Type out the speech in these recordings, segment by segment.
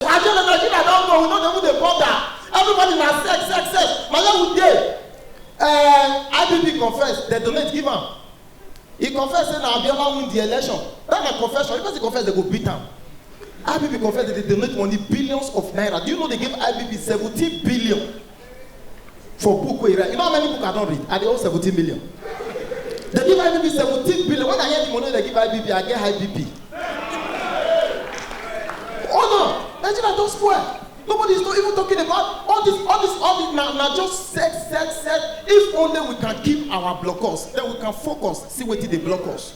I say na Nigeria don go, we no dey even dey bother. Everybody na sex, sex, sex. Na where we dey? Uh, IPP confess, dem donate give am. He confess say na Abiola win the election. That na confession. If person confess, dem go beat am. IPP confess that they donate money billions of naira. Do you know they gave IPP 17 billion for book wey you write you know how many book i don read i dey owe seventeen million they give ibb seventeen billion when i hear the money they give ibb i get high bp oh no nigeria don spoil nobody is not even talking about all this all this all this na na just set set set if only we can keep our blockers then we can focus see wetin dey block us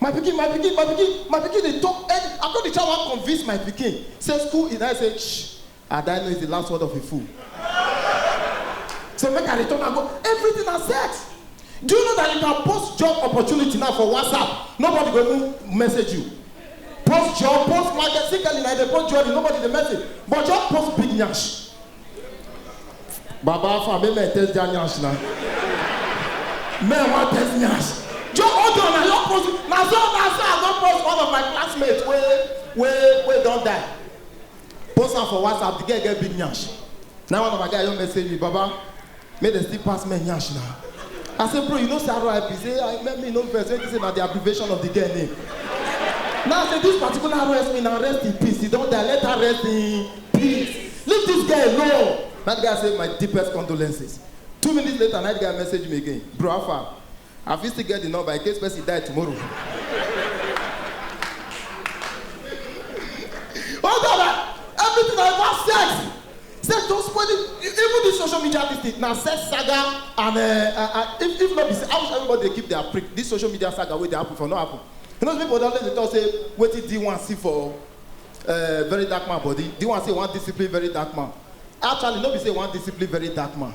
my pikin my pikin my pikin my pikin dey talk any i come dey try wan convince my pikin say school is i say shh adaino is the last word of a fool say make i return am go everything na sex do you know that you can post job opportunity now for whatsapp nobody go even message you post job post market see kelly na dey post jewelry nobody dey message but just post big nyash Baba Alpha, make men test their nyash na. Men wan test nyash. Joe Ojo na your post, na so na so I don post one of my classmates wey wey wey don die. Post am for WhatsApp, the girl get big nyash. Na one of my guy just message me, Baba, Make dem still pass men yansh na. I say bro you know say RIP say I make me no vex make you say na the abbreviation of the girl name. Now I say this particular RSP na rest in peace he don die let her rest in peace leave this girl alone. That guy say my deepest condolences. Two minutes later na the guy message me again bro how far? I fit still get the number in case person die tomorrow. oh God, I, everything I want sex. Sex don spoil it. E- Even this social media this thing na sex saga and uh, uh, uh, if if no be say I wish everybody dey keep their prick. This social media saga wey dey happen for no happen. You know people don dey talk say wetin D one see for uh, very dark man body. D one say one discipline very dark man. Actually no be say one discipline very dark man.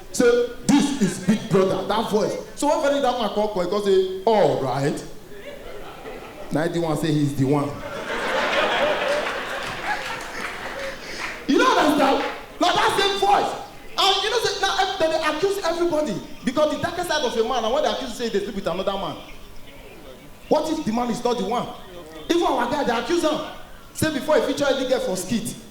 Say this is big brother that voice so when Femi that man come come he come say alright na him the one say he's the one you no understand na that same voice and you know say na ev- dem dey accuse everybody because the darkest side of a man na when they accuse you say you dey sleep with another man what if the man is not the one even our guy dey accuse am say before he feature any girl for skit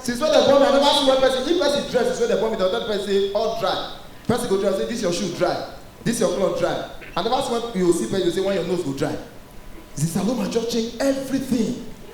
since when dem born me i never see one person if person dress since when dem born me dem tell the person say all dry person go dress say this your shoe dry this your cloth dry i never see one you go see person you go say when your nose go dry zisaloma just change everything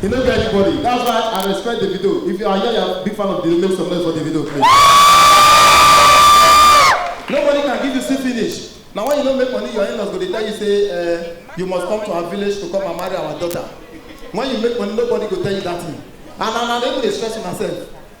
He no get anybody. That's why I respect Davido. If you are here, you are a big fan of Davido, make some noise for Davido, please. Nobody can give you see finish. Now when you don't make money, your in-laws go dey tell you say uh, you must come to our village to come and marry our daughter. When you make money, nobody go tell you that thing. And and and they go dey stress yourself.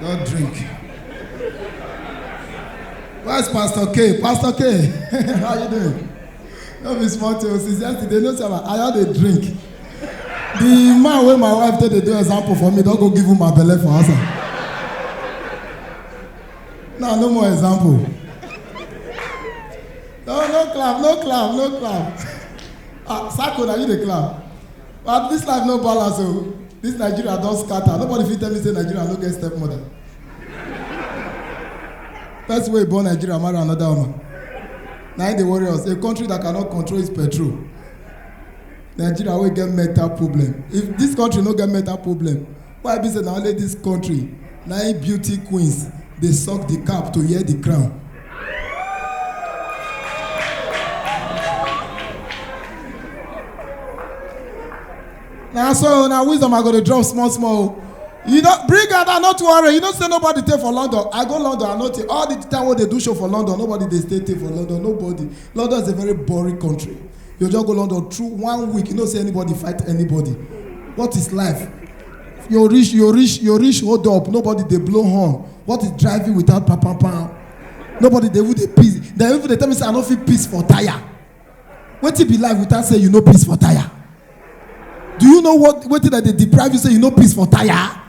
Don't drink. Where's Pastor K? Pastor K, how you doing? No be small thing. Since yesterday, no sir, I had a drink. The man wey my wife take dey do example for me don go give him my belle for house. Now no more example. No, no clap, no clap, no clap. Ah, Sako, na you dey clap. but this life no balance o oh. this nigeria don scatter nobody fit tell me say nigeria no get stepmother person wey born nigeria marry another woman na im dey worry us a country that cannot control its petrol nigeria wey get mental problem if this country no get mental problem why be say na only dis country na im beauty queens dey suck di cap to wear di crown na so na wisdom i go dey drop small small o you don bring am down no too worry you know say nobody dey for london i go london i no take all the time wey dey do show for london nobody dey stay take for london nobody london is a very boring country you just go london through one week you no see anybody fight anybody what is life you reach you reach you reach hold up nobody dey blow horn what is driving without papapa nobody dey even dey piss dem even dey tell me say i no fit piss for tire wetin be life without say you no piss for tire do you know what wetin dem dey deprive you say you no piss for tire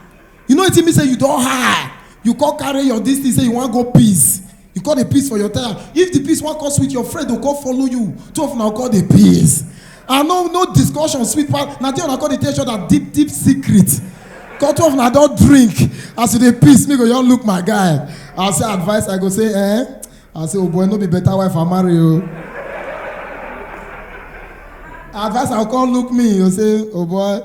you know wetin mean say you don high you come carry your dis thing say you wan go peace you come dey peace for your tire if the peace wan come sweet your friend go come follow you two of una come dey peace and no no discussion sweet pass na there una come dey tell each other deep deep secret come two of una don drink as you dey peace me go just look my guy i say advice i go say eh i say oh boy no be better wife i marry o. Oh. advice i come look me you say oh boy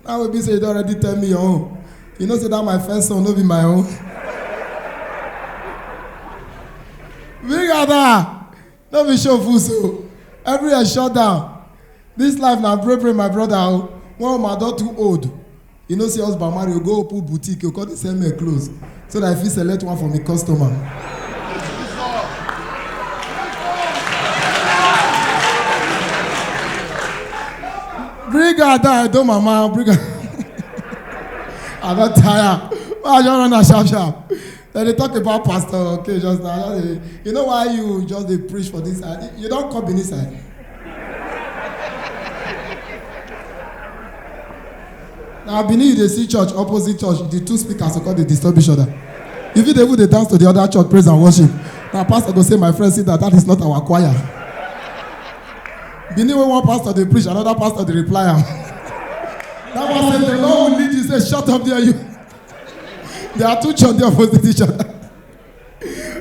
Now we be say you don already tell me your own. You know say that my first son no be my own. Big Ada, no be show full so. Everywhere shut down. This life na pray pray my brother o. One woman don too old. You know say husband marry o go open boutique o come dey sell men clothes. so that I fit select one for me customer. Bring her down, don't mama, bring her. I don tire. Why I just run am sharp sharp? Dem dey talk about pastor okay just now. I just dey- You know why you just dey preach for this side? You don come Benin side? na benin you dey see church opposite church the two speakers go come dey disturb each other you fit dey even dey dance to the other church praise and worship na pastor go say my friend sit down that is not our choir benin wey one pastor dey preach another pastor dey reply am that one say the lord will lead you say shut up there you there are two church there opposite each other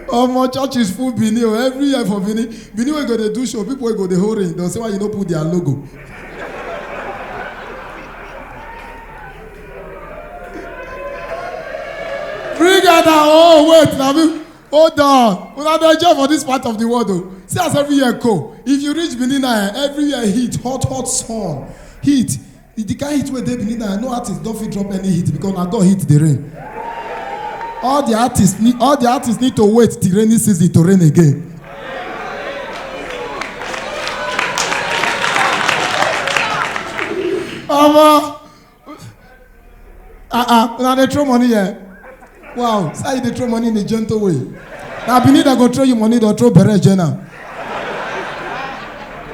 omo churches full benin o every year for benin benin wey go dey do show people wey go dey hold ring don say why you no put their logo bring out that oh wait na me hold on una dey enjoy for this part of the world o see as every year go if you reach benin na eh, every year heat hot hot sun heat If the kind heat wey dey benin now no artist don fit drop any hit because na god hit the rain all the artists need all the artists need to wait till rainy season to rain again omo ah ah una dey throw money here Wow, so you dey throw money in a gentle way. Na Benin dem go throw you money, dem throw bere join am.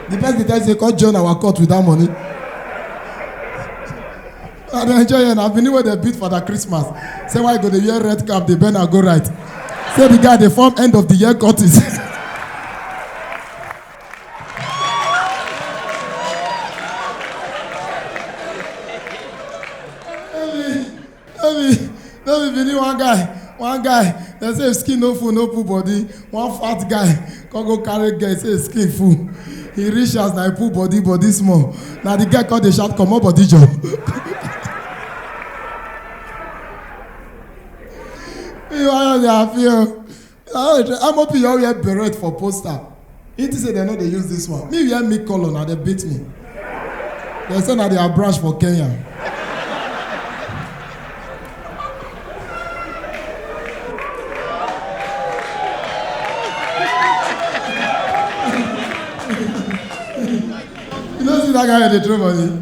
The person dey tell you say come join our court with that money. I dey enjoy here na Benin wey dem beat for that Christmas. Say why you go dey wear red cap dey bend and go right. Say the guy dey form end of the year courtis. no be no be bini one guy one guy dem say if skin no full no pull body one fat guy come go carry girl say his skin full he reach house na he pull body body small na the girl come dey shout comot body jor. ìwà yóò di àfihàn. ah amop you all wear beret for poster he think say dem no dey use this one me wear me colour na dem beat me dem say na their branch for kenya you no see that guy wey dey throw money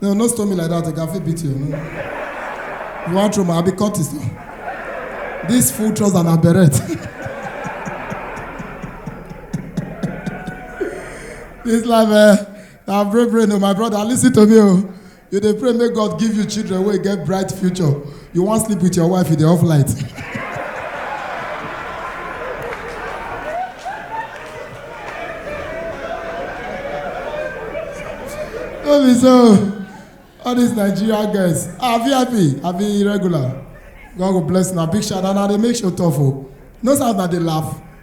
No, no stone me like that. I can fit beat you. No. You want throw my? I be Curtis. No. This full trouser and a beret. this life, eh? Now pray, pray, no, my brother. Listen to me, oh. You dey pray, make God give you children where you get bright future. You wan sleep with your wife, you dey off light. no be so all these nigeria girls ah vip i be irregular god go bless una big shout out na dey make show tough o no sound na dey laugh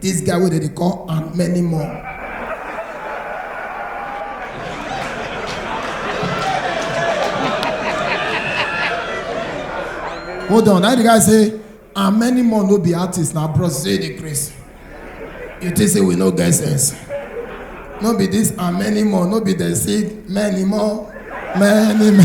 This guy wey dem dey call and many more. Hold on, that the guy say and many more no be artists na bros say dey craze. You think say we no get sense? No be this and many more, no be dem say many more, many many.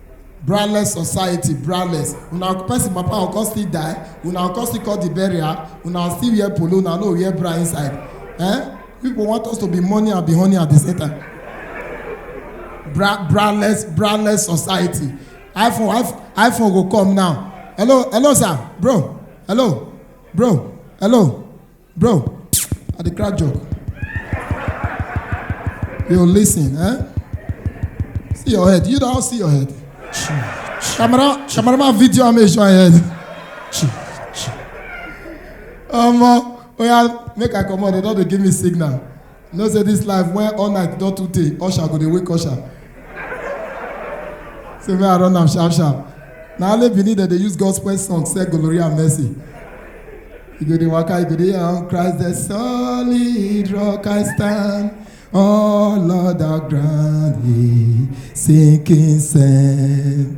braless society braless una person papa go come still die una go come still call the burial una still wear polo una no wear bra inside eh people want us to be money and be honey at the same time bra braless braless society iphone iphone iphone go come now hello hello sir bro hello bro hello Bro, I dey crack joke. Yo, listen, eh? See your head. You don't see your head. Camera, cameraman video am make sure I head. Omo, oya make I comot, dem don dey give me signal. You know say this life when all night don too tey, usher go dey wake usher. Say make I run am sharp sharp. Na only Benin dem dey use gospel song sell glory and mercy. You go dey waka, you go dey on Christ the solid rock I stand. All other ground is sinking sand.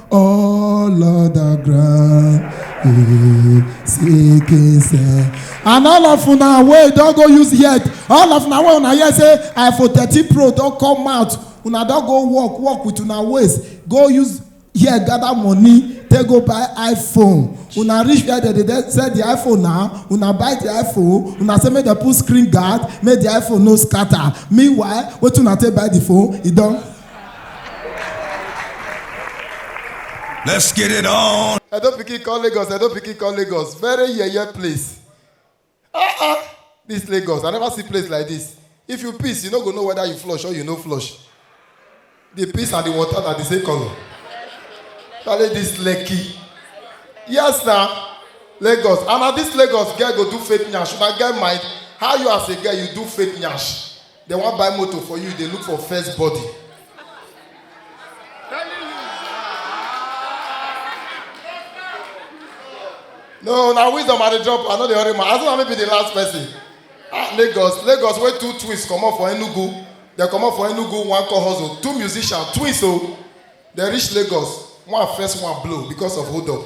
all other ground eh, seeking say and all of una wey don go use head all of una wey una hear say iphone thirteen pro don come out una don go work work with una waist go use hear gather money take go buy iphone una reach where dem dey sell the iphone now una buy the iphone una say make dem put screen guard make the iphone no scatter meanwhile wetin una take buy the phone e don Let's get it on. I don't pikin call Lagos. I don't pikin call Lagos. Very yeye place. Ah ah, this Lagos. I never see place like this. If you piss, you no go know whether you flush or you no flush. The piss and the water are the same color. Tale this Lekki. Yes na Lagos. And na this Lagos girl go do fake nyash. Una get mind how you as a girl you do fake nyash. They wan buy motor for you, they look for first body. No, na wisdom I dey drop, I no dey hurry man. As long as I no be the last person. Ah, Lagos, Lagos wey two twins comot for Enugu, dem comot for Enugu, one come hustle, two musicians, twins o. Dem reach Lagos, one first one blow because of hold up.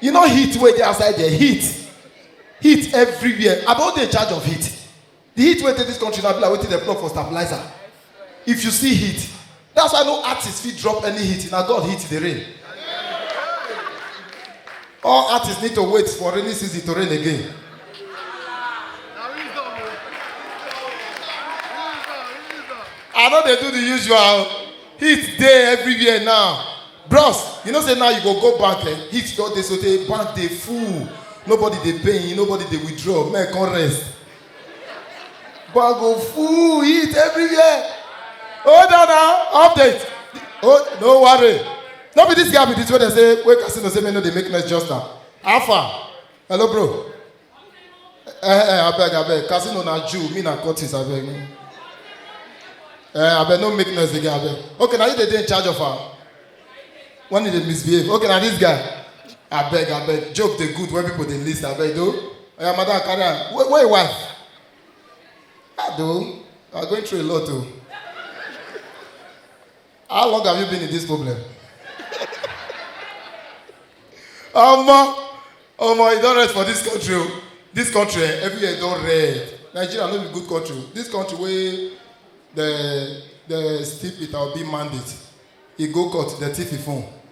you know heat wey dey outside there heat heat everywhere i don dey in charge of heat the heat wey dey this country na be like wetin dem plug for stabilizer if you see heat that's why no artist fit drop any heat na god heat dey rain all artists need to wait for rainy season to rain again i no dey do the usual heat dey everywhere now bros you know say now you go go bank eh heat don dey sotey bank dey full nobody dey pay nobody dey withdraw men come rest bank go full heat everywhere hold on now update oh no worry no be this guy be this wey dey say wey casino say men no dey make noise just now how far hello bro Eh, eh, I beg, I beg. Casino na Jew, me na Curtis, I beg. Eh, I beg, no make noise again, I beg. Okay, now you dey dey in charge of her. When you dey misbehave. Okay, now this guy. I beg, I beg. Joke dey good when people dey list, I beg, though. Oya, madam, carry am. Where, where your wife? Ah, though. You are going through a lot, though. How long have you been in this problem? Omo, omo, e don rest for this country o. This country eh, every year e don red. Nigeria no be good country. o. This country wey the the steep Peter Obi mandate, e go court, the thief e phone.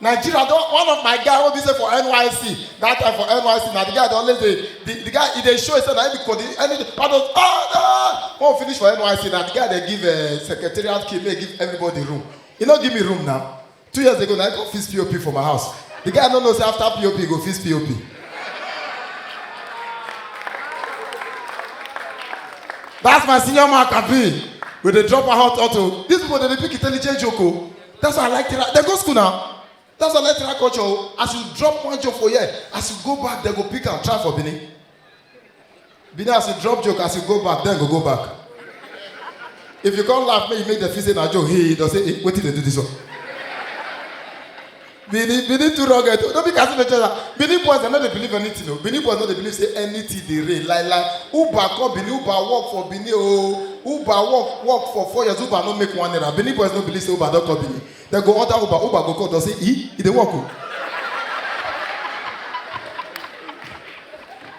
nigeria don one of my guy wey be say for nysc that time for nysc na the guy dey always dey the, the guy e dey show himself na him be coordinator any all those ah ah when we finish for nysc na the guy dey give uh, secretariat key make he give everybody room he no give me room now two years ago na he go fix pop for my house the guy no know say after pop he go fix pop that's my senior man kabi we dey drop our hot auto these people dey dey pick intelligent joke o. That's why I like Tira. They go school now. That's why I like Tira culture. oh. As you drop one joke for here, as you go back, they go pick and try for Bini. Bini, as you drop joke, as you go back, then go go back. If you can't laugh, make you make the feel say na joke. Hey, they say, hey, wait till they do this one. Benin, Benin too rugged. No be casino chesa. Benin boys, dem no dey believe anything o. Benin boys no dey believe say anything dey reign. Like like Uber come Benin, Uber work for Benin o. Uber work work for four years, Uber no make one naira. Benin boys no believe say Uber don come Benin. Dem go order Uber, Uber go call don say, e, e dey work o.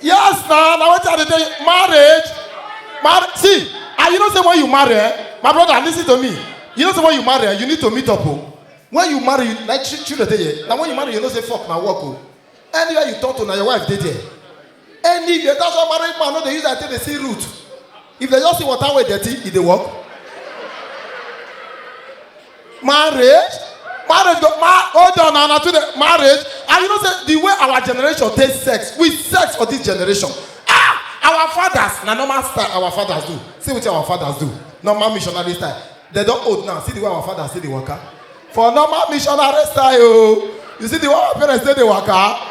yes na na wetin i dey tell you marriage mar see and you know say when you marry eh my brother lis ten to me you know say when you marry eh you need to meet up o when you marry you like chi children dey here na when you marry you know say fok na work o anywhere you talk to na your wife dey there anywhere that's why married man no dey use eye take dey see root if dem just see water wey dirty e dey work marriage marriage go ma hold on na na too dey marriage and you know say the way our generation take sex we sex for this generation ah our fathers na normal style our fathers do see wetin our fathers do normal missionary style dem don old now see the way our fathers take dey waka for normal missionary style o you see the way our parents take dey waka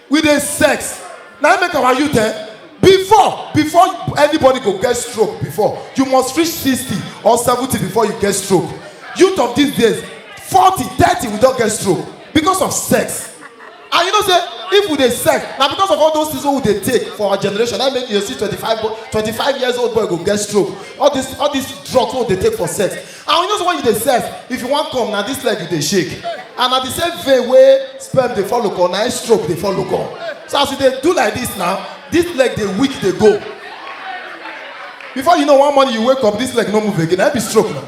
we dey sex na im make our youth eh before before anybody go get stroke before you must reach sixty or seventy before you get stroke youth of these days forty thirty we don get stroke because of sex and you know say if we dey sex na because of all those things wey we dey take for our generation na im make you dey see twenty-five boy twenty-five years old boy go get stroke all this all this drugs wey we dey take for sex and you know say when you dey sex if you wan come na this leg you dey shake and na the same vein wey sperm dey follow come na im stroke dey follow come so as you dey do like this now this leg dey weak dey go before you know one morning you wake up this leg no move again na im be stroke na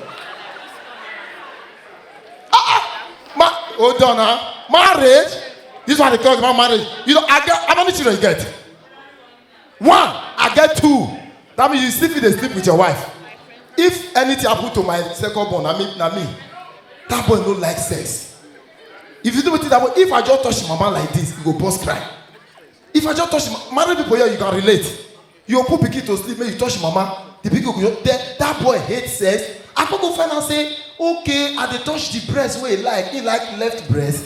ah ah ma hold on na marriage this one dey talk about marriage you know i get how many children you get one i get two that means you still fit dey sleep with your wife if anything happen to my second born na me na me that boy no like sex if you do wetin that boy if i just touch him mama like this he go burst cry if i just touch him ma- married people here you can relate you go put pikin to sleep make you touch him mama the pikin go just then that boy hate sex i come go find out say okay i dey touch the breast wey he like he like left breast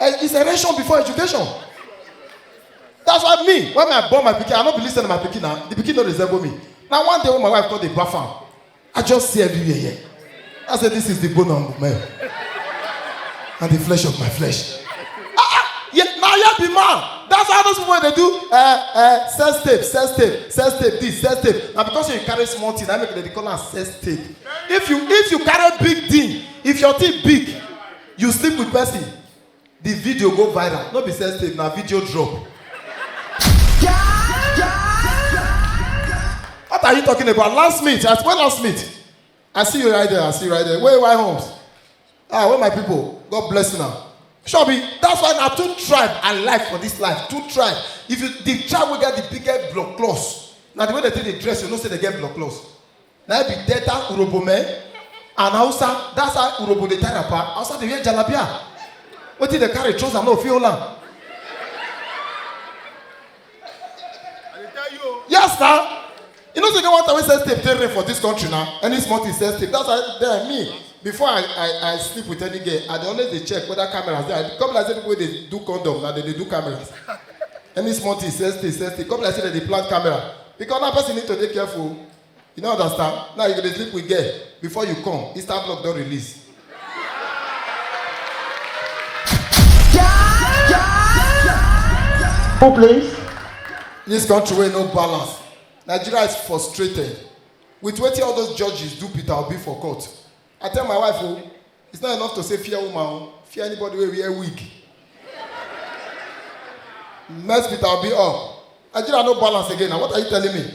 Eh, it's a ration before education. That's why me, when I born my pikin, I no be listen to my pikin now. The pikin no resemble me. Now one day when my wife called the bath am, I just see everywhere here. I said, this is the bone of my and the flesh of my flesh. Ah, ah, yeah, now you be man. That's how those people they do uh, uh, sex tape, sex tape, sex tape, this, sex tape. Now because you carry small thing, I make they call am sex tape. If you if you carry big thing, if your thing big, You sleep with person, the video go viral. No be sex tape, na video drop. What are you talking about? Last meet, at when last meet? I see you right there, I see you right there. Where why homes? Ah, where my people? God bless you now. Shobi, that's why na two tribe I like for this life. Two tribe. If you the tribe wey get the biggest blood clots, na the way they take dey dress, you know say they get blood clots. na be delta urobo men and hausa that's how urobo dey tie wrapper hausa dey wear jalabia wetin dey carry trouser no fit hold am. yes na you know say get one time wey sex tape dey rare for dis country na any small thing sex tape that's why then me before i i i sleep with any girl i dey always dey check whether cameras dey i come be like say people wey dey do condom na dey dey do cameras any small thing sex tape sex tape come be like say dem dey plant camera because now person need to dey careful You don't understand? Now you go dey sleep with girl before you come, Easter block don release. Who plays? This country wey no balance. Nigeria is frustrated with wetin all those judges do Peter Obi for court. I tell my wife o, it's not enough to say fear woman o, fear anybody wey wear wig. Mess Peter Obi up. Nigeria no balance again na what are you telling me?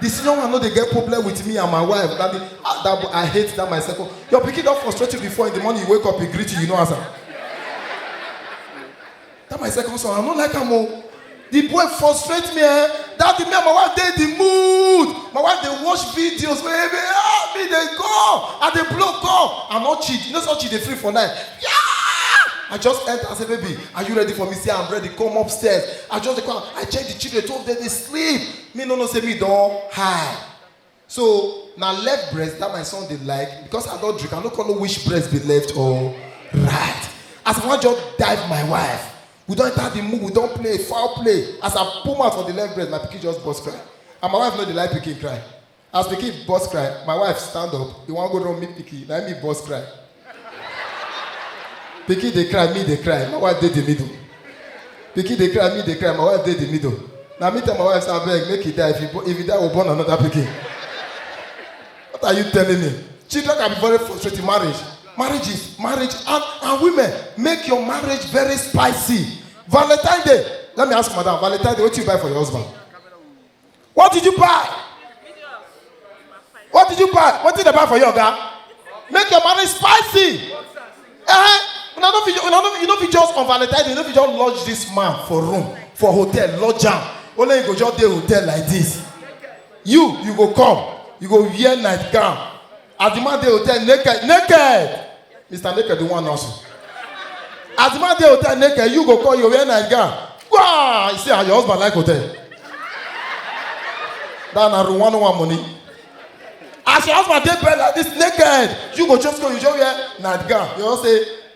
The senior one no dey get problem with me and my wife. That, be, ah, that boy, I hate that my second. Your pikin don frustrate you before in the morning you wake up, he greet you, you no answer. That my second son, I no like am o. The boy frustrate me eh. That the me and my wife dey the mood. My wife dey watch videos wey me ah me dey go. I dey blow call. I no cheat. You know so cheat dey free for night. Yeah! I just enter and say, baby, are you ready for me? Say, I'm ready. Come upstairs. I just dey come. I check the children. Two of them dey sleep. me no know say me don high so na left breast that my son dey like because i don drink i no come know which breast be left or right as i wan just dive my wife we don enter the mood we don play foul play as i put mouth for the left breast my pikin just burst cry and my wife no dey like pikin cry As pikin burst cry, my wife stand up, e wan go run meet pikin, na me burst cry. pikin dey cry, me dey cry, my wife dey the middle. Pikin dey cry, me dey cry, my wife dey the middle. Na me tell my wife say abeg make he die, if he, bo- if he die, we born another pikin. What are you telling me? Children can be very frustrating. Marriage, marriage is marriage, and, and women make your marriage very spicy. Valentine Day. Let me ask madam, Valentine Day, what you buy for your husband? What did you buy? What did you buy? What did they buy for you, Oga? Make your marriage spicy. Eh? Una no fit, una no, you no fit just on Valentine's Day, you no fit just lodge this man for room, for hotel, lodge am. Only you go just dey hotel like this. You, you go come, you go wear nightgown, As the man dey hotel naked, naked. Mr. Naked, the one nonsense. As the man dey hotel naked, you go call your wear night gown. Wow! You see how your husband like hotel. That na room one one money. As your husband dey bed like this naked, you go just go, you just wear night gown. You just say,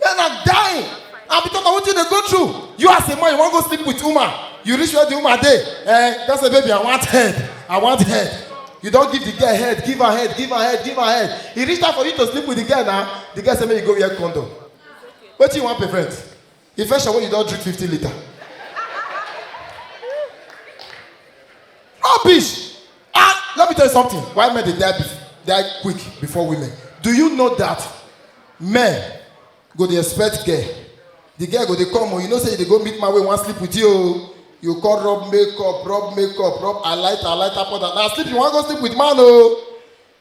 Men are dying. And because of what you dey go through, you as a man, you wan go sleep with woman. You reach where the woman dey. Eh, that's a baby, I want head. I want head. You don give the girl head, give her head, give her head, give her head. E reach time for you to sleep with the girl now. The girl say make you go wear condom. Wetin you wan prevent? Infection wey you don drink fifty litre. Rubbish! Ah, let me tell you something. Why men they die, die quick before women? Do you know that men go the expect girl? The girl go they come, oh, you know say they go meet my way, one sleep with you. Oh. You call rub makeup, rub makeup, rub I light, I light up on that. Now sleep, you want to go sleep with man, oh.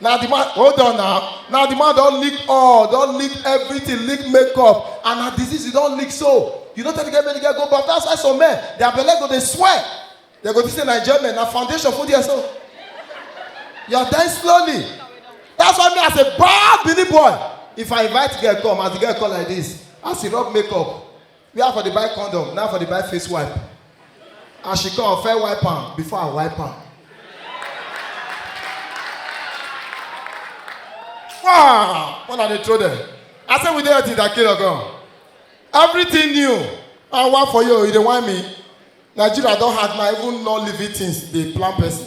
na the man hold on now na the man don lick all don lick everything lick makeup and na disease you don lick so you no tell the girl make the girl go baff that's why some men their belle go dey swell they go think say na enjoyment na foundation full there so you are dying slowly that's why me as a bad bini boy if i invite girl come as the girl come like this as he rub makeup where i for dey buy condom na i for dey buy face wipe as she come fair wipe am before i wipe am wow when i dey throw them i say we dey until that kilo gan everything new and one for you you dey whine me nigeria don hard na even non living things dey plan person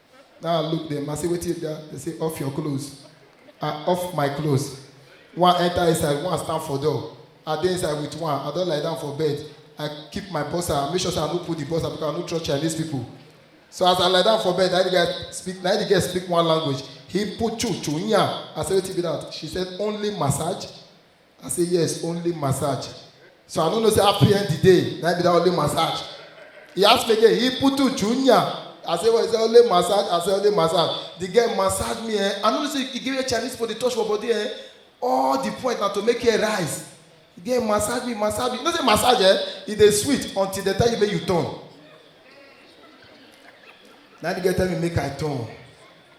Now I look them, I say, wait till there. They say, off your clothes. I off my clothes. One enter inside, one stand for door. I dey inside with one, I don't lie down for bed. I keep my bossa, I make sure say I no put the bossa because I no trust Chinese people. So as I lie down for bed, na the guy speak, na the girl speak one language. He put chu chu nya. I say, wait till be that. She said, only massage. I say yes, only massage. So I don't know say happy end the day, na be that only massage. He ask me again, he put to junior. I say well, he say only massage, I say only massage. The girl massage me eh. I know say he give me a Chinese for the touch for body eh. All the point na to make her rise. The girl massage me, massage me. You know say massage eh, e dey sweet until the time you make you turn. Now the girl tell me make I turn.